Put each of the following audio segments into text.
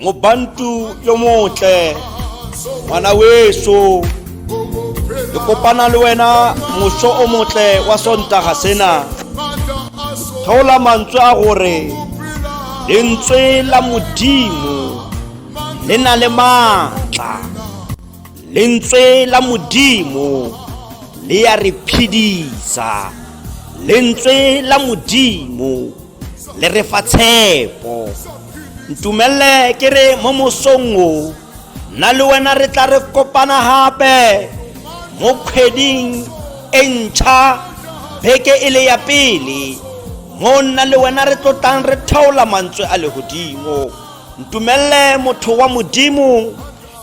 mobantu yo motle ngwana weso ke kopana le wena moso o motle wa sontaga sena theola mantswe a gore lentswe la modimo le na le maatla lentswe la modimo le ya re phedisa lentswe la modimo le re fa tshepo ntumelele ke re mo mosong o nna le wena re tla re kopana gape mo kgweding e ntšha beke e le ya pele mo nna le wena re tlotlang re thaola mantswe a legodimo ntumelele motho wa modimo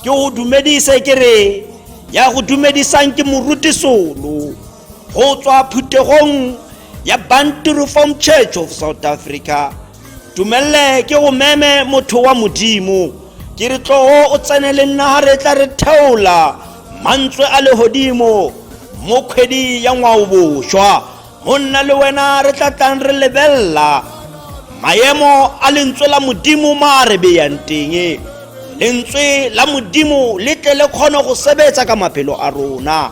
ke go dumedise ke re ya go dumedisang ke moruti solo go tswa phuthegong ya bantu reform church of south africa tumelele ke go meme motho wa modimo ke re tlogo o tsene le nna ga re tla re theola mantswe a legodimo mo kgwedi ya ngwaobošwa go nna le wena re tla tlang re lebelela maemo a lentswe la modimo ma a re beyang teng lentswe la modimo le tle le kgone go sebetsa ka maphelo a rona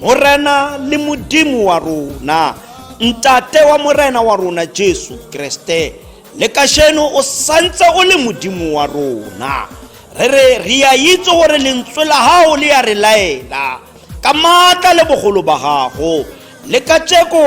morena le modimo wa rona ntate wa morena wa rona jesu kreste le kasheno o santse o le modimo wa rona re re re a itse gore lentswe la gago le ya re laela ka maatla le bogolo ba gago le ka tšeko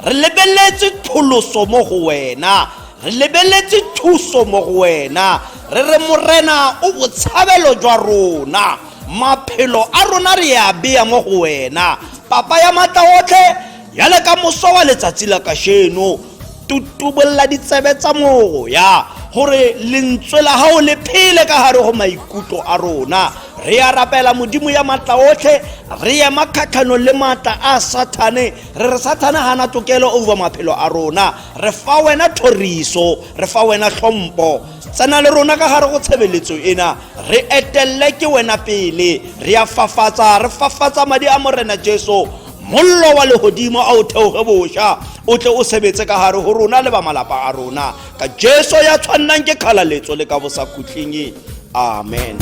re lebeletse tholoso mo go wena re lebeletse thuso mo go wena re re morena o botshabelo jwa rona maphelo a rona re a beya mo go wena papa ya matla otlhe ya le ka moso wa letsatsi la kasheno tutubolela ditsebe tsa moya gore lentswe la gago le phele ka gare go maikutlo a rona re ya rapela modimo ya matla otlhe re ema kgatlhanong le matla a sathane re re sathane ga na tokelo over maphelo a rona re fa wena thoriso re fa wena tlhompho tsena le rona ka gare go tshebeletso ena re etelele ke wena pele re a fafatsa re fafatsa madi a morena jesu mollo wa legodimo a o theoge boša o tle o sebetse ka gare go rona le ba malapa a rona ka jesu ya tshwannang ke kgalaletso le ka bosakhutleng amen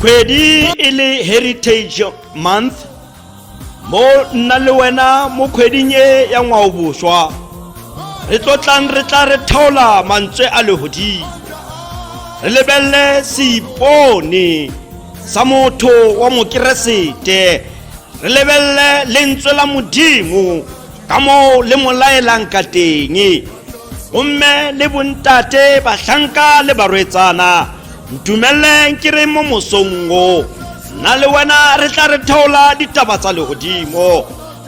kgwedi e le heritage month mo nna le wena mo kgweding e ya ngwaoboswa re tlotlang re tla re theola mantswe a legodimo re lebelele seipone sa motho wa mokeresete re lebelele lentswe la modimo ka moo le mo laelang ka teng gomme le bontate batlhanka le barwetsana ntumeleleng ke re mo mosongo nna le wena re tla re theola ditaba tsa legodimo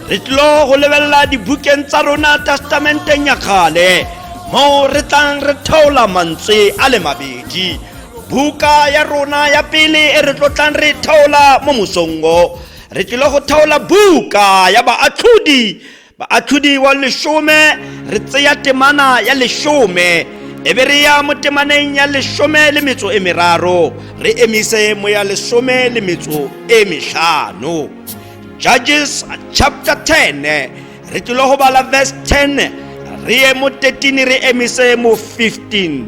re tlilo go lebelela dibukeng tsa rona testamenteng ya kgale moo re tlang re theola mantswe a le mabedi buka ya rona ya pele e re tlotlang re theola mo mosongo re tlile go theola buka ya baatlhodi baatlhodi wa lesome re tseya temana ya lesome e be re ya mo temaneng ya lesome le metso e meraro re emise mo ya lesome le metso e metlhano judges chapter 10 re tlile go bala verse 10 re ye mo 13 re emise mo 15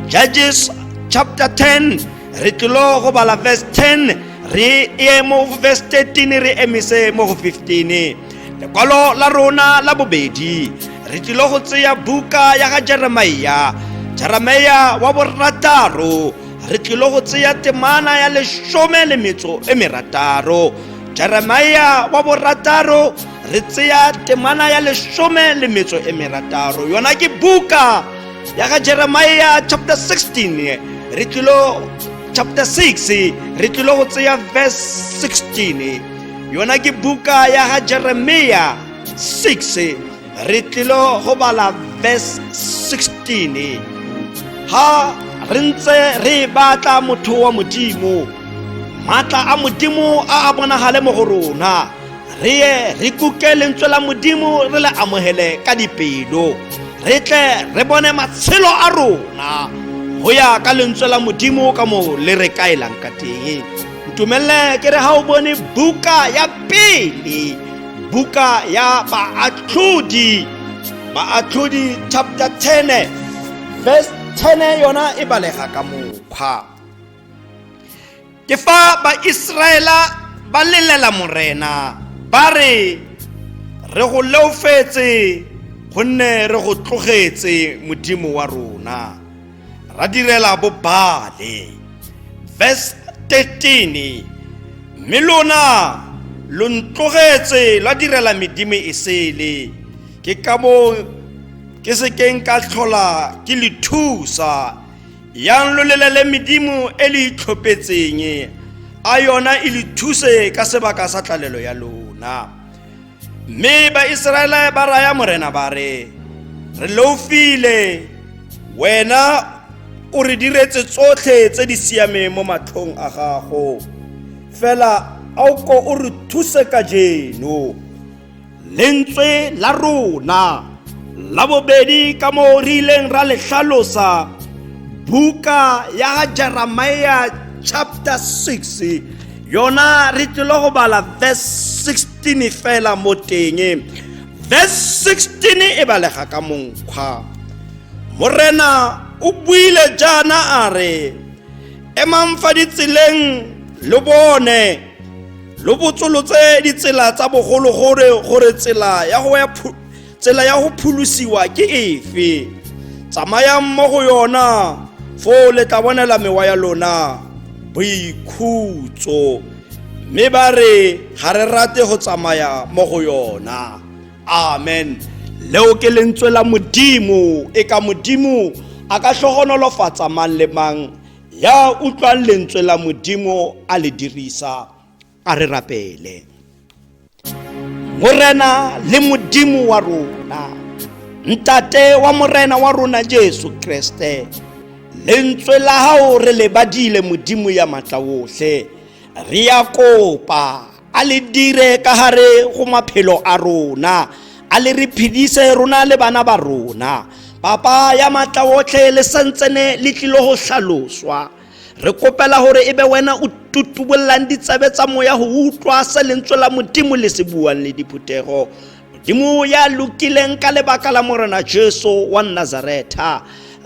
judges chapter 10 re tlile go bala verse 10 re ye mo verse 13 re emise mo go 15 lekwalo la rona la bobedi re tlile go tseya buka ya ga jeremia jeremia wa borataro re tlile go tseya temana ya lesome le metso e merataro jeremia wa borataro re tseya temana ya lesome le metso e merataro yona ke buka ya ga jeremia chapter 16 re tlilo chapter 6 re tlilo go tseya verse 16 yona ke buka ya ga jeremia 6 re tlilo go bala verse 16 ha re ntse re batla motho wa modimo maatla a modimo a a bonagale mo go rona re ye re kuke lentswe la modimo re le amogele ka dipelo re tle re bone matshelo a rona go ya ka lentswe la modimo ka mo le re kaelang ka teng ntumelele ke re ga o bone buka ya pele buka ya baatlhodi baatlhodi chapter 10 verse 10 yona e balega ka mokgwa ke fa baiseraela ba lelela morena ba re re go leofetse gonne re go tlogetse modimo wa rona ra direla bobale verse 13 mme lona lo ntlogetse la direla medimo e sele ke ka moo ke sekeng ka tlhola ke le thusa yang lo lelele medimo e le itlhophetseng a yona e le thuse ka sebaka sa tlalelo ya lona mme baiseraele ba raya morena ba re re loufile wena o re diretse tsotlhe tse di siameng mo matlhong a gago fela a o ko o re thuse ka jeno lentswe la rona la bobedi ka moo re ileng ra le tlhalosa buka ya jeremia chapter 6 yona re tlile go bala verse 16 fela mo teng verse 16 e balega ka monkgwa morena o buile jaana a re emang fa ditseleng lo bone lo botsolotse ditsela tsa bogologolo gore tsela ya go ya tsela ya go pholosiwa ke efe tsamayang mo go yona foo le tla bonela mewa ya lona boikhutso mme ba re ga re rate go tsamaya mo go yona amen leo ke lentswe la modimo e ka modimo a ka tlhogonolofatsa mang le mang ya utlwang lentswe la modimo a le dirisa a re rapele morena le modimo wa rona ntate wa morena wa rona jesu kreste lentswe la gago re lebadile modimo ya maatla otlhe re ya kopa a le dire ka gare go maphelo a rona a le re phedise rona le bana ba rona papa ya maatla otlhe le santsene le tlile go hlaloswa re kopela gore e be wena o tutubollang ditsebe tsa moya go utlwa se lentswe la modimo le se buang le diphuthego modimo ya lokileng ka lebaka la morena jesu wa nazaretha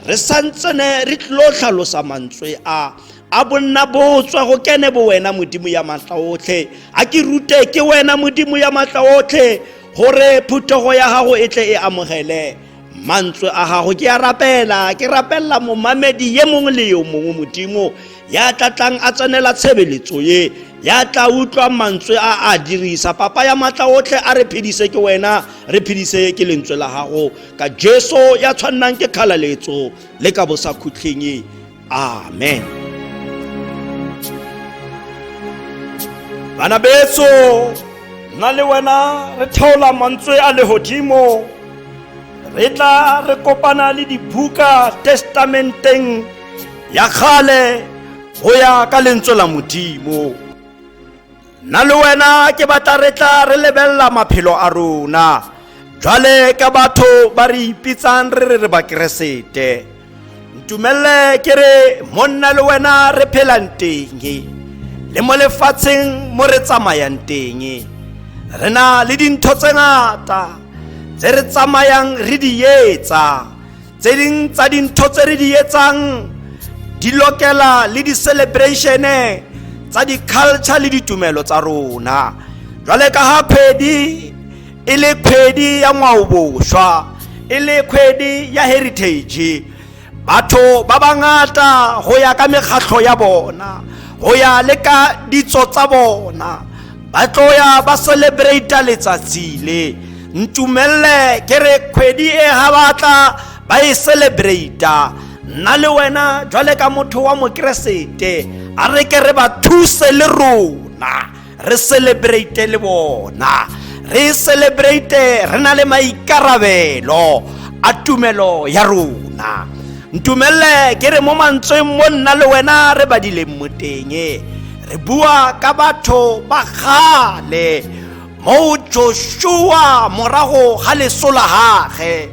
re santsene re tlilo tlhalosa mantswe a a bonna botswa go kene bo wena modimo ya maatla otlhe a ke rute ke wena modimo ya maatla otlhe gore phuthego ya gago e tle e amogele mantswe a gago ke a rapela ke rapelela momamedi ye mongwe le yo mongwe modimo ya tla tlang a tsenela tshebeletso ye ya tla utlwa mantswe a a dirisa papa ya maatla otlhe a re phedise ke wena re phedise ke lentswe la gago ka jesu ya tshwannang ke kgalaletso le ka bosakhutlheng amen bana betso nna le wena re theola mantswe a legodimo re tla re kopana le dibuka testamenteng ya kgale go ya ka lentswe la modimo nna le wena ke batla re tla re lebelela maphelo a rona jwale ka batho ba re ipitsang re re re bakeresete ntumelele ke re monna le wena re phelang teng le mo lefatsheng mo re tsamayang teng re na le dintho tse ngata tse re tsamayang re di etsa tse ding tsa dintho tse re di etsang di lokela le di-celebration-e tsa di-culture le ditumelo tsa rona jwale ka ha kgwedi e le kgwedi ya ngwaobošwa e le kgwedi ya heritage batho ba bangata go ya ka mekgatlho ya bona go ya le ka ditso tsa bona ba tloya ba celebrata letsatsi le ntumelele ke re kgwedi e ga batla ba e celebrata nna le wena jwale ka motho wa mokeresete a re ke re ba thuse le rona re celebrate le bona re celebrate re na le maikarabelo a tumelo ya rona ntumelele ke re mo mantsweng mo nna le wena re badileng mo teng re bua ka batho ba kgale moo joshua morago ga leso la gage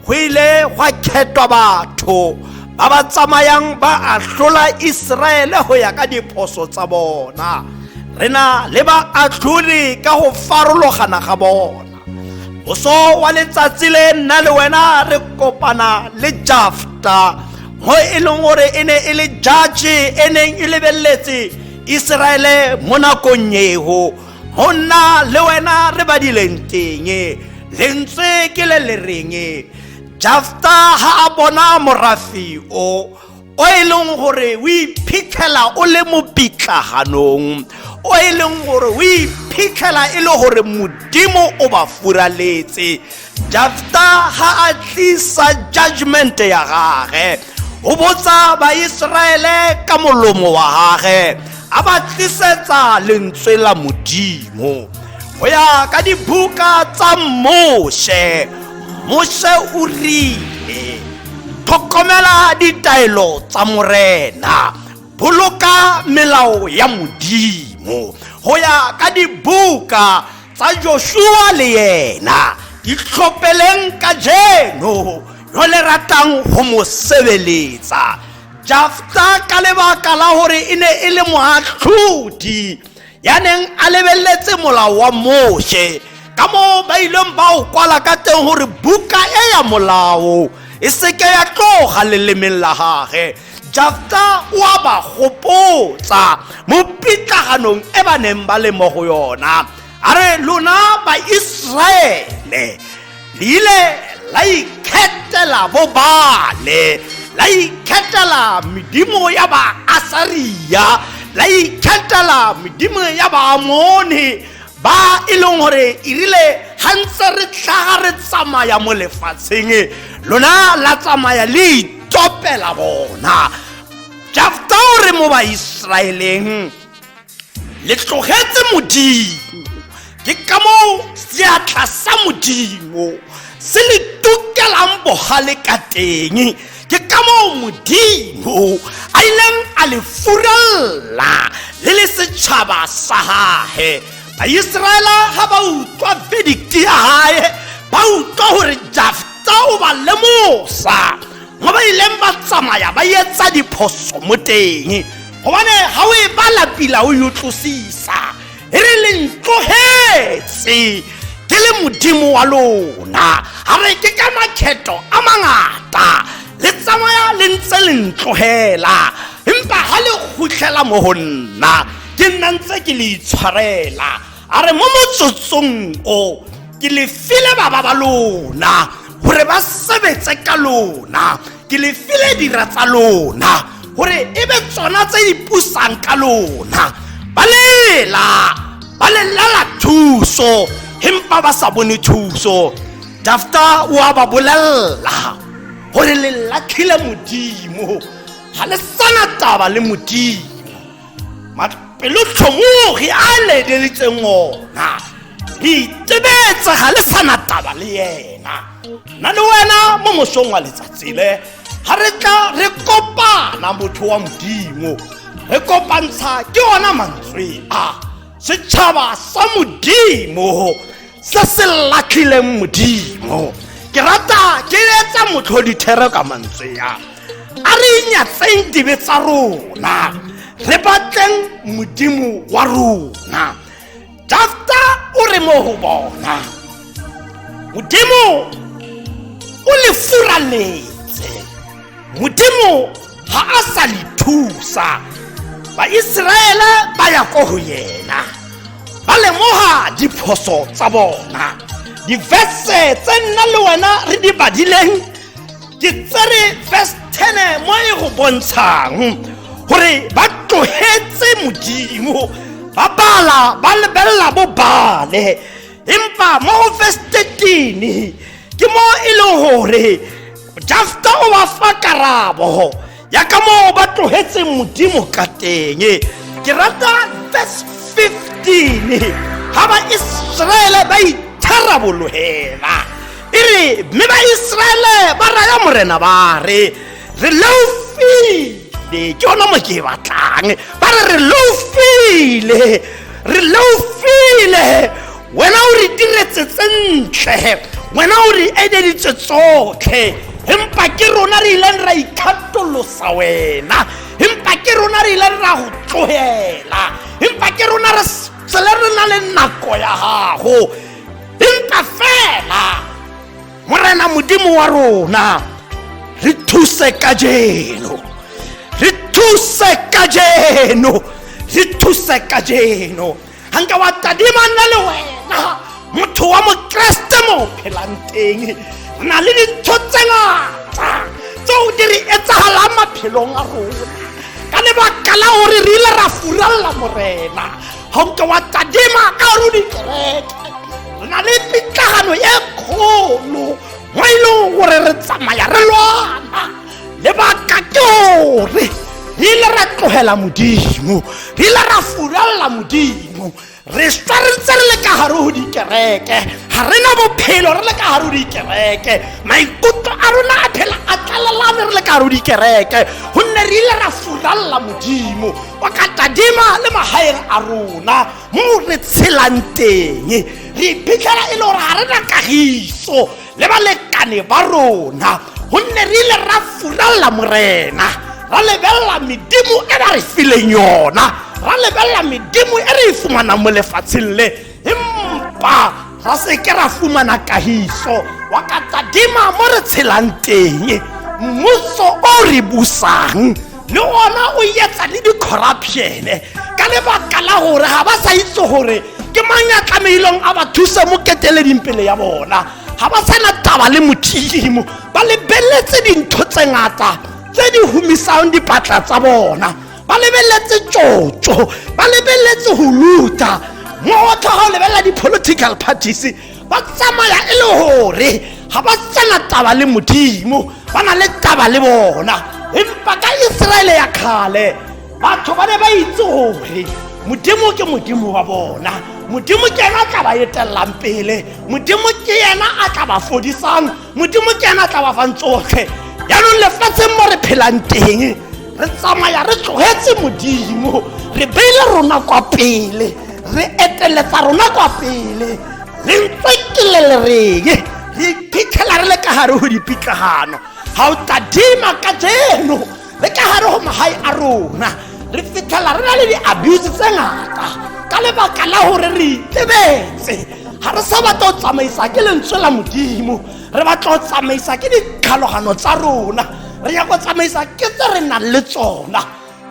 go ile gwa khetwa batho ba ba tsamayang ba ahlola iseraele go ya ka diphoso tsa bona re na le baatlholi ka go farologana ga bona boso wa letsatsi le nna le wena re kopana le jafta mo e leng gore e ne e le judge e neng e lebeletse iseraele mo nakong eo go nna le wena re badileng teng lentswe ke le le reng jafta ga a bona morafi o o e leng gore o iphitlhela o le mo pitlaganong o e leng gore o iphitlhela e le gore modimo o ba furaletse jafta ga a tlisa judgment ya gage o botsa baiseraele ka molomo wa gage a ba tlisetsa lentswe la modimo go ya ka dibuka tsa moshe moshe o rile tlhokomela ditaelo tsa morena boloka melao ya modimo go ya ka dibuka tsa joshua le yena di tlhopeleng ka jeno yo le ratang go mo sebeletsa jafta ka lebaka la gore e ne e le moatlhodi ya neng a lebeletse molao wa moshe ka moo ba ileng ba o kwala ka teng gore buka e ya molao e seke ya tloga lelemeng la gage jafta o a ba gopotsa mo pitlaganong e ba neng ba le mo go yona a re lona baiseraele le ile la ikhetela bobale la ikhetela medimo ya baasaria la ikhetela medimo ya baamone ba e leng gore e rile ga ntse re tlhaga re tsamaya mo lefatsheng lona la tsamaya le itopela bona jafta o re mo baiseraeleng le tlogetse modimo ke ka moo seatla sa modimo se le tukelang bogale ka teng ke ka moo modimo a ileng a le furalla le le setšhaba sa gage baiseraela ga ba utlwa vedikti ya gae ba utlwa gore jafta o ba lemosa mo ba ileng ba tsamaya ba etsa diphoso mo teng gobane ga o e bala pila o yo tlosisa e re le ntlogetse ke le modimo wa lona ga re ke ka makgetho a mangata le tsamaya le ntse le ntlogela empa ga le khutlhela mo go nna ke nna ntse ke le itshwarela a re mo motsotsong o ke le file baba ba lona gore ba sebetse ka lona ke le file dira tsa lona gore e be tsona tse di pusang ka lona ba lela ba lelela thuso empa ba sa bone thuso dafta o a ba bolelela gore le latlhile modimo ga le sana taba le modimo pelo tlhomogi a ledelitseng ona re itebetse ga le sana taba le yena na le wena mo mosong wa letsatsi le ga re tla re kopana motho wa modimo re kopantsha ke ona mantswe a setšhaba sa modimo se se latlhileng modimo ke rata ke etsa motlhodithero ka mantswe ya a re inyatseng dibe tsa rona re batleng modimo wa rona jafta o re mo go bona modimo o le furaletse modimo ga a sa le thusa baiseraele ba ya ko go yena ba lemoga diphoso tsa bona difese tse nna le wena re di badileng ke tsere verse 10 mo e go bontshang gore ba tlogetse modimo ba bala ba lebelela bo bale empa mo go verse 13 ke mo e leng gore jafta o ba fa karabo ya ka moo ba tlogetseng modimo ka teng ke rata verse 15 ga baiseraele ba itharabologelwa e re mme baiseraele ba raya morena ba re re leofile ke ona mo ke e batlang ba re re leofile re leofile wena o re diretse tse ntle wena o re eleditse tsotlhe empa ke rona re ileng ra ikgatolosa wena empa ke rona re ileng ra go tsogela empa ke rona re tsele re na le nako ya gago empa fela morena modimo wa rona re thuse ka jeno re thuse ka jeno re thuse ka jeno ga nka wa tadima nna le wena motho wa mokeresete mo phelang teng na le dintho tse ngata tseo di re etsagalang maphelong a rona ka lebaka la gore re ile ra furalela morena ga nke wa tadima ka gore o dikereke re na le pitlagano e kgolo mo e leng gore re tsamaya re lwana lebaka ke gore re ile ra tlogela modimo re ile ra furalela modimo re swa re ntse re le ka gare go dikereke ga re na bophelo re le ka gare go dikereke maikutlo a rona a phela a tlalelane re le ka gare go dikereke gonne re ile ra furalela modimo o ka tadima le magaeng a rona mo re tshelang teng re iphitlhela e le gore ga re na kagiso le balekane ba rona gonne re ile ra furalela morena ra lebelela medimo e ba re fileng yona ra lebelela medimo e re e fumanang mo lefatsheng le empa ra seke ra fumana kahiso wa ka tadima mo re tshelang teng mmuso o re busang le gona o etsa le di-corruptione ka lebaka la gore ga ba sa itse gore ke mang ya tlamehileng a ba thuse mo keteleding pele ya bona ga ba sana taba le modimo ba lebeletse dintho tse ngata tse di humisang dipatla tsa bona ba lebeletse tsotso ba lebeletse go luta mo go tlhoga o lebelela di-political parties ba tsamaya e le gore ga ba tsena taba le modimo ba na le taba le bona empa ka iseraele ya kgale batho ba ne ba itse gore modimo ke modimo wa bona modimo ke ena a tla ba etelang pele modimo ke ena a tla ba fodisang modimo ke ena tla bafang tsotlhe jaanong lefatsheng mo re phelang teng re tsamaya re tlogetse modimo re beile rona kwa pele re eteletsa rona kwa pele re ntse ke le lereng re iphitlhela re le ka gare go dipitlagano ga o tadima ka jeno le ka gare go magae a rona re fitlhela re na le di-abuse tse ngata ka lebaka la gore re itebetse ga re sa batla go tsamaisa ke lentswe la modimo re batla go tsamaisa ke ditlhalogano tsa rona re ya go tsamaisa ke tse re nang le tsona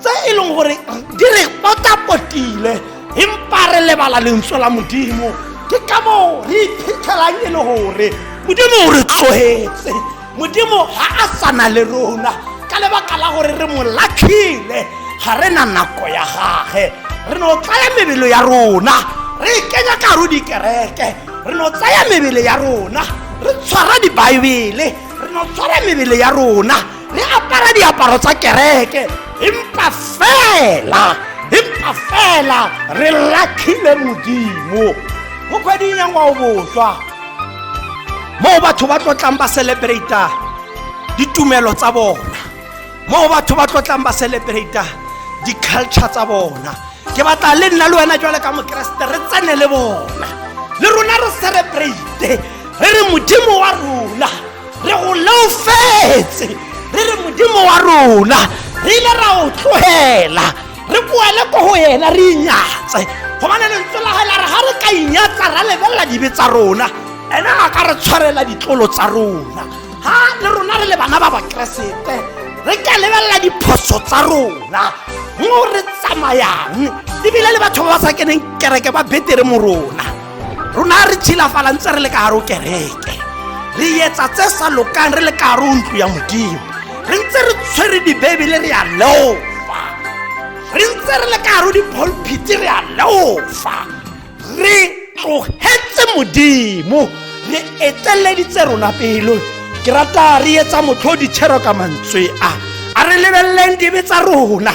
tse e leng gore di re potapotile empa re lebala lentswe la modimo ke ka moo re iphitlhelang e le gore modimo o re tlogetse modimo ga a sana le rona ka lebaka la gore re mo latlhile ga re na nako ya gage re no tsaya mebelo ya rona re e kenya ka ro dikereke re no tsaya mebele ya rona re tshwara dibaebele re no tshwara mebele ya rona re apara diaparo tsa kereke empa fela empa fela re latlhile modimo mo kgweding ya ngwao boswa moo batho ba tlotlang ba celebrata ditumelo tsa bona moo batho ba tlotlang ba celebrata di-culture tsa bona ke batla le nna le wena jwale ka mokeresete re tsene le bona le rona re celebrate re re modimo wa rona re go leofetse re re modimo wa rona re ile ra o tlogela re koele ko go ena re inyatse gobane lentswe la gaela re ga re ka inyatsa ra lebelela dibe tsa rona ene a ka re tshwarela ditlolo tsa rona ga le rona re le bana ba bakeresete re ka lebelela diphoso tsa rona mo re tsamayang ebile le batho ba ba sa keneng kereke ba betere mo rona rona re tshilafala ntse re le ka gare o kereke re etsa tse sa lokang re le ka gare o ntlo ya modimo re ntse re tshwere dibebele re ya leofa re ntse re le ka gare o dipholphiti re ya leofa re tlogetse modimo re etleleditse rona pelo ke rata re etsa motlho ditshero ka mantswe a a re lebeleleng dibe tsa rona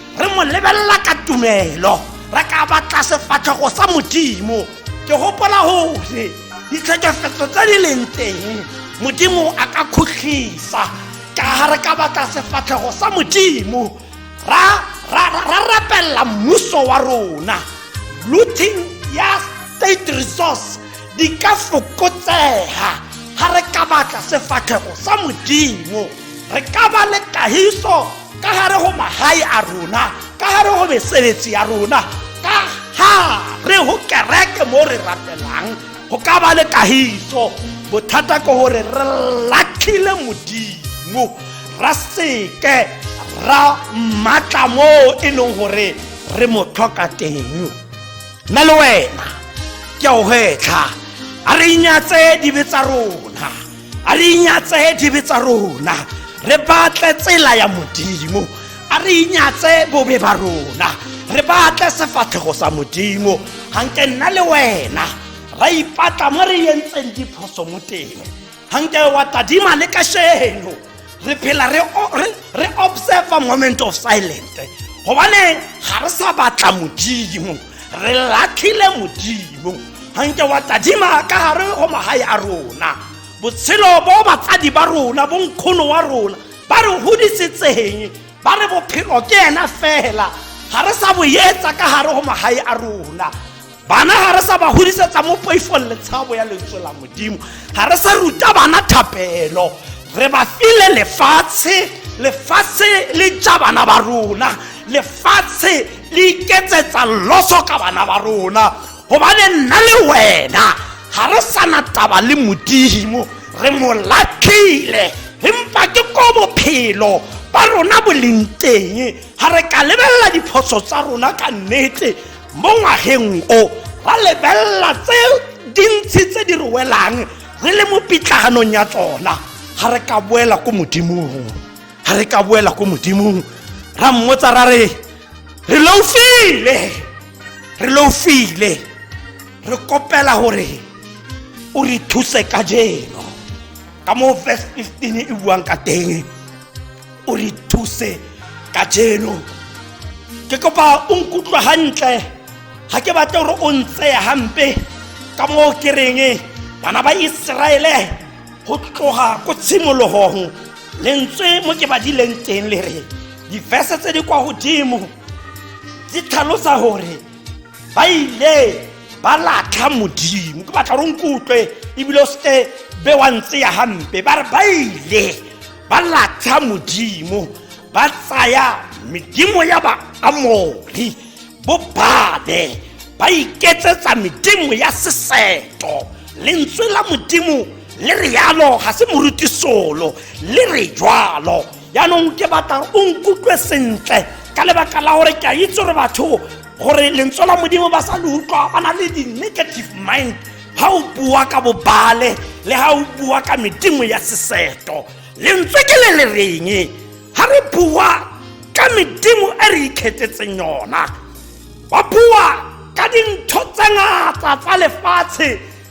re mo lebelela ka tumelo re ka batla sefatlhogo sa modimo ke gopola gore ditlhekefetso tse di leng teng modimo a ka khutlisa ka ga re ka batla sefatlhogo sa modimo ra rapelela mmuso wa rona looting ya state resource di ka fokotsega ga re ka batla sefatlhego sa modimo re ka ba le kahiso ka gare go magae a rona ka gare go mesebetsi ya rona ka gare go kereke mo re rapelang go ka ba le kagiso bothata ke gore re latlhile modimo ra seke ra mmatla mo e leng gore re mo tlhoka teng nna le wena ke a o gwetlha a re inyatse dibe tsa rona a re inyatse dibe tsa rona re batle tsela ya modimo a re inyatse bobe ba rona re batle sefatlhego sa modimo ganke nna le wena ra ipatla mo re yentseng diphoso mo teng ganke wa tadima le kasheno re phela re o- re- re observa moment of silent gobane ga re sa batla modimo re latlhile modimo ganke wa tadima ka gare go magae a rona botshelo bo batsadi ba rona bo nkgono wa rona ba re godisetseng ba re bophelo ke ena fela ga re sa boetsa ka gare go magae a rona bana ga re sa ba godisetsa mo poifong letshabo ya lentswe la modimo ga re sa ruta bana thapelo re ba file lefatshe lefatshe le ja bana ba rona lefatshe le iketsetsa loso ka bana ba rona gobane nna le wena ga re sana taba le modimo re mo latlhile empa ke ko bophelo ba rona bo leng teng ga re ka lebelela diphoso tsa rona ka nnete mo ngwageng o ra lebelela tse dintsi tse di re welang re le mo pitlaganong ya tsona ga re ka boela ko modimong ga re ka boela ko modimong ra mmotsa ra re re loufile re loufile re kopela gore o re thuse ka jeno ka moo verse 15 e buang ka teng o re thuse ka jeno ke kopa o nkutlwa gantle ga ke batle gore o ntseya gampe ka moo ke reng bana ba iseraele go tloga ko tshimologong lentswe mo ke badileng teng le re difese tse di kwa godimo di tlhalosa gore ba ile ba latlha modimo ke batla gore o nkutlwe ebile o seke be wa ntseya gampe ba re ba ile ba latsha modimo ba tsaya medimo ya baamori bo babe ba iketsetsa medimo ya seseto lentswe la modimo le re yalo ga se moruti solo le re jwalo yaanong ke batla o nkutlwe sentle ka lebaka la gore ke a itse gore batho gore lentswe la modimo ba sa le utlwa ba na le di-negative mind ha o bua ka bobale le ha o bua ka medimo ya seseto lentswe ke le le reng ha re bua ka medimo e re ikgethetseng yona ba bua ka dintho tse ngata tsa lefatshe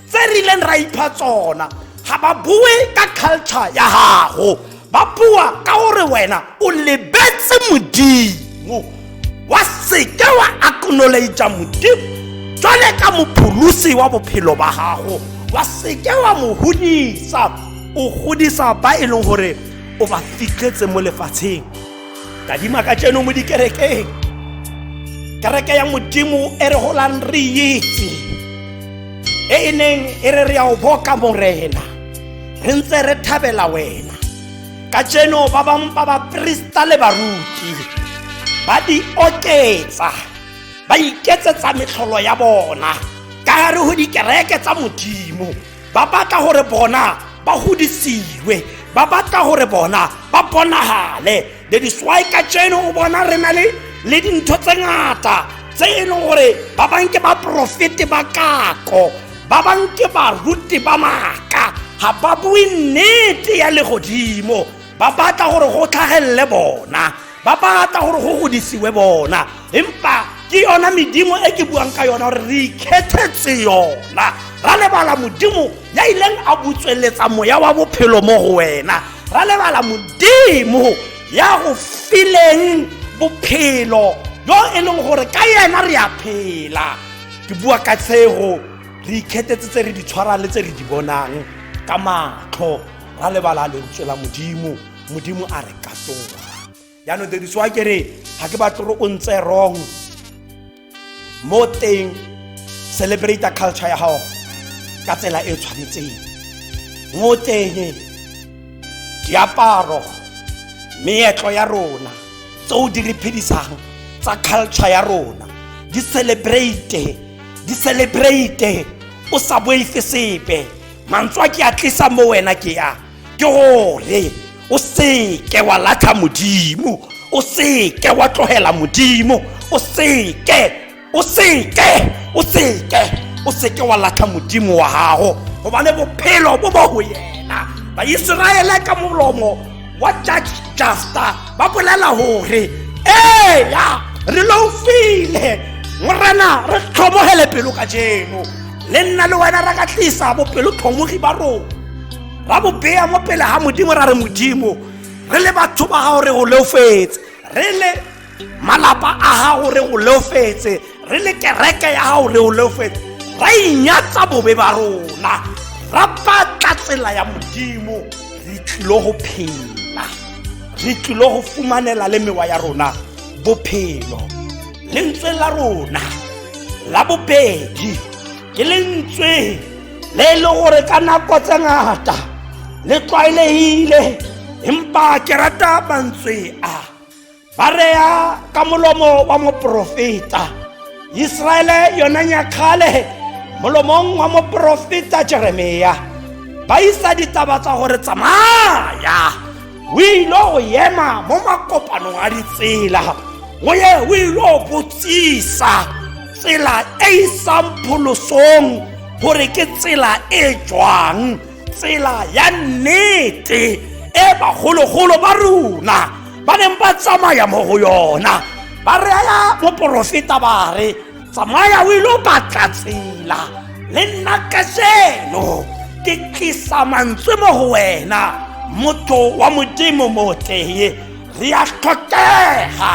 tse re ileng ra ipha tsona ga ba bue ka culture ya gago ba bua ka gore wena o lebetse modimo wa seke wa acknowledgea modimo jwale ka mopholosi wa bophelo ba gago wa seke wa mo godisa o godisa ba e leng gore o ba fitlhetse mo lefatsheng kadima ka tseno mo dikerekeng kereke ya modimo e re golang re itse e e neng e re re ya o boka morena re ntse re thabela wena ka tseno ba bangwe ba baporista le baruti ba di oketsa ba iketsetsa metlholo ya bona ka gare go dikereke tsa modimo ba batla gore bona ba godisiwe ba batla gore bona ba bonagale that is why ka tseno o bona re na le le dintho tse ngata tse e leng gore ba bang ke baporofete ba kako ba bang ke baruti ba maaka ga ba bue nnete ya legodimo ba batla gore go tlhagelele bona ba batla gore go godisiwe bona empa ke yona medimo e ke buang ka yona gore re ikgethetse yona ra lebala modimo ya ileng a botsweletsa moya wa bophelo mo go wena ra lebala modimo ya go fileng bophelo yo e leng gore ka yena re a phela ke bua ka tshego re ikgethetse tse re di tshwarang le tse re di bonang ka matlho ra lebala lentswe la modimo modimo a re katoga jaanong tediso a kere ga ke batle gore o ntse wrong mo teng celebrate culture ya gago ka tsela e tshwanetseng mo teng diaparo meetlo ya rona tse o di re phedisang tsa culture ya rona di celebrate di celebrate o sa boife sepe mantswe a ke a tlisa mo wena ke a ke gore o seke wa latlha modimo o seke wa tlogela modimo o seke o seke o seke o seke wa latlha modimo wa gago gobane bophelo bo bo go yena baiseraele ka molomo wa judge juster ba bolela gore eya re loufile morena re tlhomogele pelo ka jeno le nna le wena ra ka tlisa bopelotlhomogi ba rona ra bo beya mo pele ga modimo ra re modimo re le batho ba gago re go leofetse re le malapa a gago re go leofetse re le kereke ya gago re go leofetse ra inyatsa bobe ba rona ra batla tsela ya modimo re tlilo go phela re tlilo go fumanela le mewa ya rona bophelo lentswe la rona la bobedi ke lentswe le e le gore ka nako tse ngata le tlwaelegile empa ke rata mantswe a ba reya ka molomo wa moporofeta iseraele yona nyakgale molomong wa moporofeta jeremia ba isa ditaba tsa gore tsamaya o ile go ema mo makopanong a ditsela o ye o ile go botsisa tsela e e isang pholosong gore ke tsela e jwang tsela ya nnete e bagologolo ba rona ba neng ba tsamaya mo go yona ba reya moporofeta ba re tsamaya o ile batla tsela le nna kajeno ke tlisa mantswe mo go wena motho wa modimo motleye re a tlhokega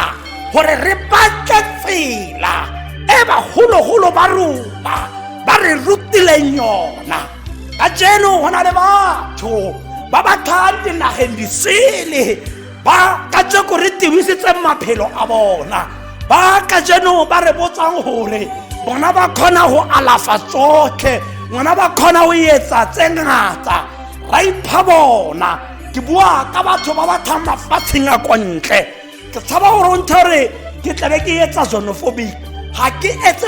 gore re batle tsela e bagologolo ba rona ba re rutileng yona ka jeno go na le batho ba ba tlhang dinageng disele ba ka jeko re tebisitseng maphelo a bona ba ka jeno ba re botsang gore bona ba kgona go alafa tsotlhe bona ba kgona go etsa tse ngata ra ipha bona ke bua ka batho ba ba thang mafatsheng a kwa ntle ke tshaba gore o nthe gore ke tlabe ke etsa xenophobic ga ke etse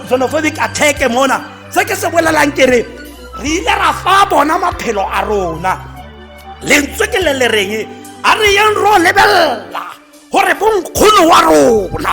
xenophobic attack mona se ke se bolelang ke re re ile ra fa bona maphelo a rona lentswe ke le le reng a re yeng ro lebelela gore bonkgono wa rona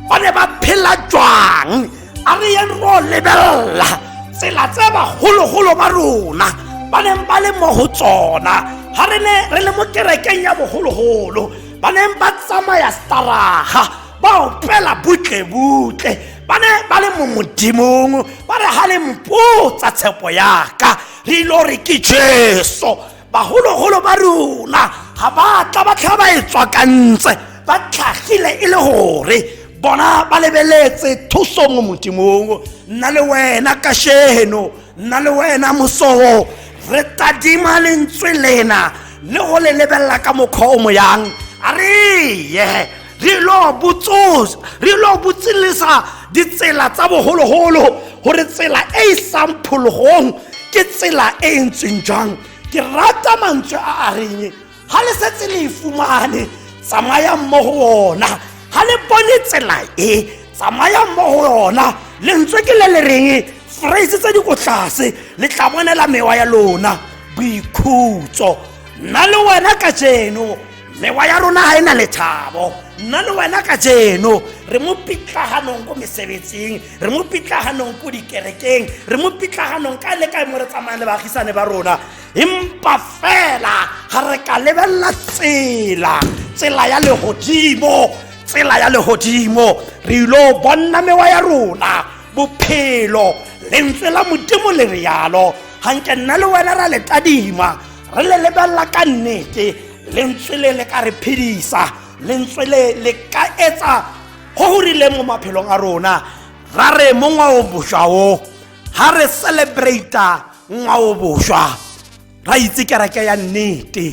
ba ne ba phela jwang a re yeng ro lebelela tsela tse bagologolo ba rona ba neng ba le mo go tsona ga re ne re le mo kerekeng ya bogologolo ba neng ba tsamaya staraga ba opela butlebutle ba ne ba le mo modimong ba re ga le mpotsa tshepo yaka re ilo re ke jesu bagologolo ba rona ga ba tla ba tlha ba e tswakantse ba tlhagile e le gore bona ba lebeletse thuso mo modimong nna le wena kasheno nna le wena mosoo re tadima lentswe lena le go le lebelela ka mokgwa o moyang a re ye re lo botsosa re lo botsilisa ditsela tsa bogologolo gore tsela e e sang phologong ke tsela e e ntseng jang ke rata mantswe a a reng ga le setse le e fumane tsamaya mo go ona ga le bone tsela e tsamaya mo go yona lentswe ke le le reng phrase tse di ko tlase le tla bonela mewa ya lona boikhutso nna le wena ka jeno mewa ya rona ga e na lethabo nna le wena ka jeno re mo pitlaganong ko mesebetsing re mo pitlaganong ko dikerekeng re mo pitlaganong ka le kae mo re tsamayang le baagisane ba rona empa fela ga re ka lebelela tsela tsela ya legodimo tsela ya legodimo re ilo bonna mewa ya rona bophelo lentswe la modimo le rialo ga nke nna le wena ra le tadima re le lebelela ka nnete lentswe le le ka re phedisa lentswe le le ka etsa go go rileng mo maphelong a rona ra re mo ngwao boswa o ga re celebrata ngwao boswa ra itse kereke ya nnete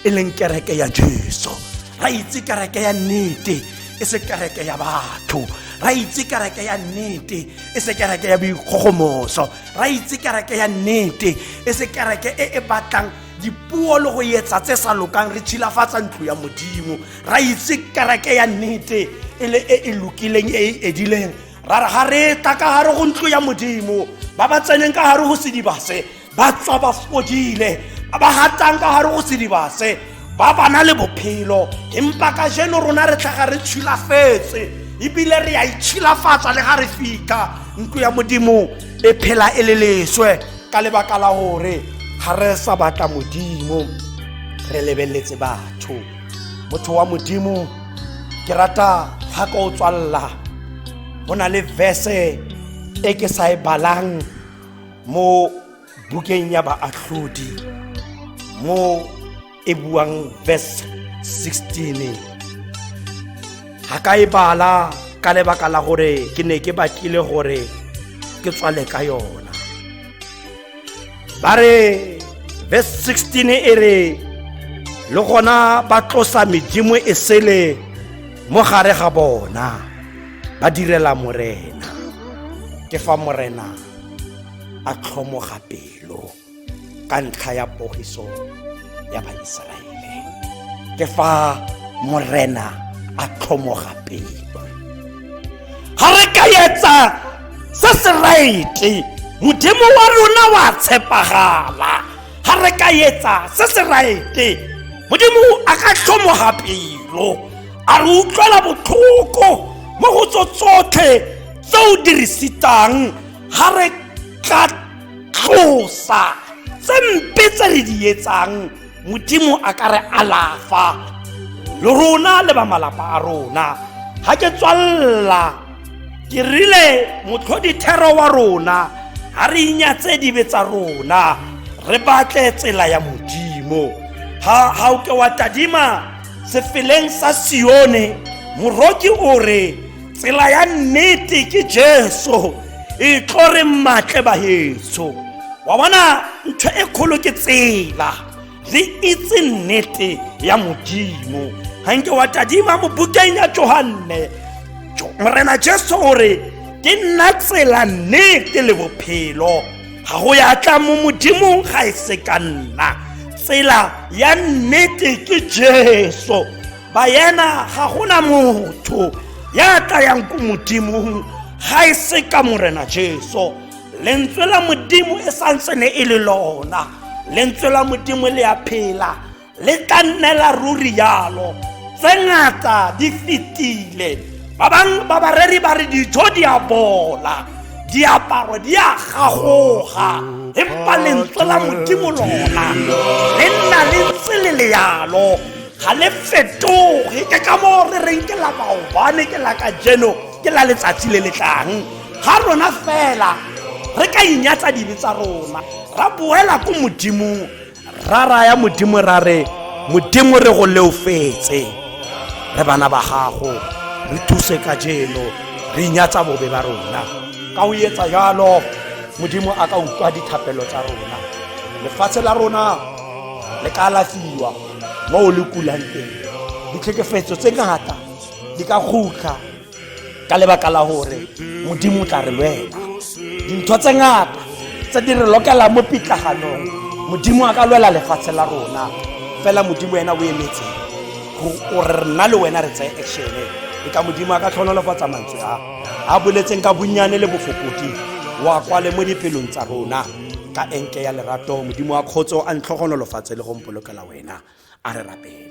e leng kereke ya jesu ra itse kereke ya nnete e se kereke ya batho ra itse kereke ya nnete e se kereke ya boikgogomoso ra itse kereke ya nnete e se kereke e e batlang dipuo le go etsa tse sa lokang re tshilafatsa ntlo ya modimo ra itse kereke ya nnete e le e e lokileng e e edileng ra re ga re tla ka gare go ntlo ya modimo ba ba tseneng ka gare go sedibase ba tswa ba fodile ba ba gatang ka gare go sedibase ba ba na le bophelo empa ka jeno rona re tlhaga re tshilafetse ebile re a itshilafatsa le ga re fitlha ntlo ya modimo e phela e le leswe ka lebaka la gore ga re sa batla modimo re lebeletse batho motho wa modimo ke rata ga ka o tswalela go na le verse e ke sa e balang mo bukeng ya baatlhodi mo e buang verse 16 ga ka e bala ka lebaka la gore ke ne ke batlile gore ke tswale ka yona ba re verse 16 e re le gona ba tlosa medimo e sele mo gare ga bona ba direla morena ke fa morena a tlhomoga pelo ka ntlha ya pogiso ya baiseraele ke fa morena a tlhomoga pelo ga re ka etsa se se raete modimo wa rona wa tshepagala ga re ka etsa se se raete modimo a ka tlhomoga pelo a re utlwela botlhoko mo go tso tsotlhe tse o dirisitsang ga re tla tlosa tse mpe tse re di etsang modimo a ka re alafa le rona le ba malapa a rona ga ke tswalela ke rile motlhodithero wa rona ga re inyatse dibe tsa rona re batle tsela ya modimo ga o ke wa tadima sefeleng sa sione moroki o re tsela ya nnete ke jesu e tlo re matle bahetso wa bona ntho e kgolo ke tsela re itse nnete ya modimo ga nke wa tadima mo bukeng ya johanne morena jesu o re ke nna tsela nnete le bophelo ga go ya tla mo modimong ga e se ka nna tsela ya nnete ke jesu bayena ga gona motho ya tlayang ko modimong ga e se ka morena jesu lentswe la modimo e santse ne e le lona lentswe la modimo le ya phela le tla nne la ruri yalo tse ngata di fetile ba bangwe ba bareri ba re dijo di a bola diaparo di a gagoga empa lentswe la modimo lona le nna le ntse le le yalo ga le fetoge ke ka moo re reng ke la maobane ke la ka jeno ke la letsatsi le le tlang ga rona fela re ka inyatsa dibe tsa rona ra boela ko modimong ra raya modimo ra re modimo re go leofetse re bana ba gago re thuse ka jeno re inyatsa bobe ba rona ka o etsa jalo modimo a ka utlwa dithapelo tsa rona lefatshe la rona le ka alafiwa mo o le kulang teng ditlhekefetso tse ngata di ka kgutlha ka lebaka la gore modimo o tla re lwela dintho tse ngata tse di re lokelang mo pitlaganong modimo a ka lwela lefatshe la rona fela modimo wena o emetse gore rena le wena re tseye actione e ka modimo a ka tlhonolofatsa mantswe a a boletseng ka bonnyane le bofokodi wa kwale mo dipelong tsa rona ka enke ya lerato modimo wa kgotso a ntlhogonolofatse le go polokela wena a re rapele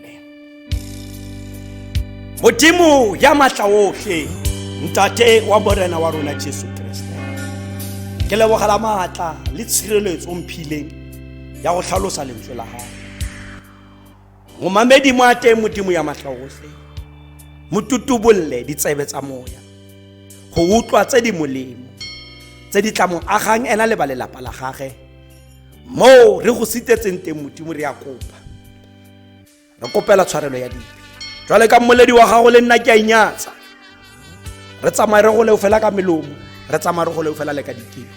modimo ya matla otlhe ntate wa morena wa rona jesu kriste ke lebogela maatla le tshireletso o mphileng ya go tlhalosa lentswe la gago momamedi mo a teng modimo ya matla otlhe mo tutubolle ditsebe tsa moya go utlwa tse di molemo tse di tla mo agang ena le ba lelapa la gage moo re go sitetseng teng modimo re ya kopa re kopela tshwarelo ya dibe jwale ka mmoledi wa gago le nna ke a inyatsa re tsamaye re goleo fela ka melomo re tsamaye re goleo fela le ka dikeng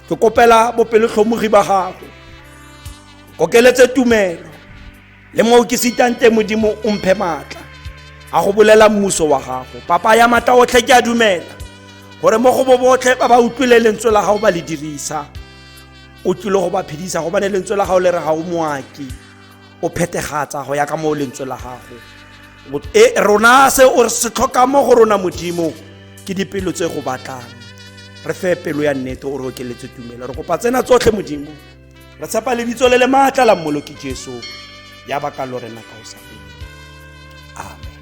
ke kopela bopelotlhomogi ba gago kokeletse tumelo le mo ke sitang teng modimo o mphe maatla a go bolela mmuso wa gago papa ya maatla otlhe ke a dumela gore mo go bo botlhe ba ba utlwile lentswe la gago ba le dirisa o tlile go ba phedisa gobane lentswe la gago le re ga o moaki o phetegatsa go ya ka moo lentswe la gago e rona se o se tlhoka mo go rona modimo ke dipelo tse go batlang re fe pelo ya nnete o re okeletse tumelo re kopa tsena tsotlhe modimo re tshepa lebitso le le maatla la mmoloki jesu ya baka lo rena ka o sa fele amen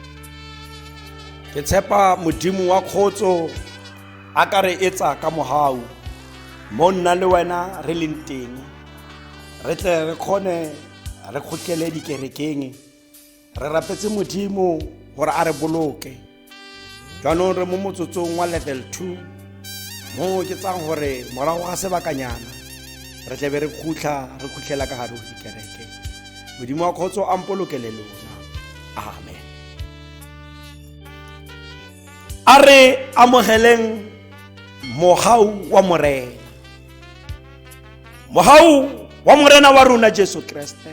ke tshepa modimo wa kgotso a ka re etsa ka mogau mo nna le wena re leng teng re tle re kgone re kgotlele dikerekeng re rapetse modimo gore a re boloke jaanong re mo motsotsong wa level two mo ke tsang gore morago ga sebakanyana re tlabe re khutlha re khutlhela ka gare go dikereke modimo wa kgotso a mpolokele lona amen a re amogeleng mogau wa morena mogau wa morena wa rona jesu kreste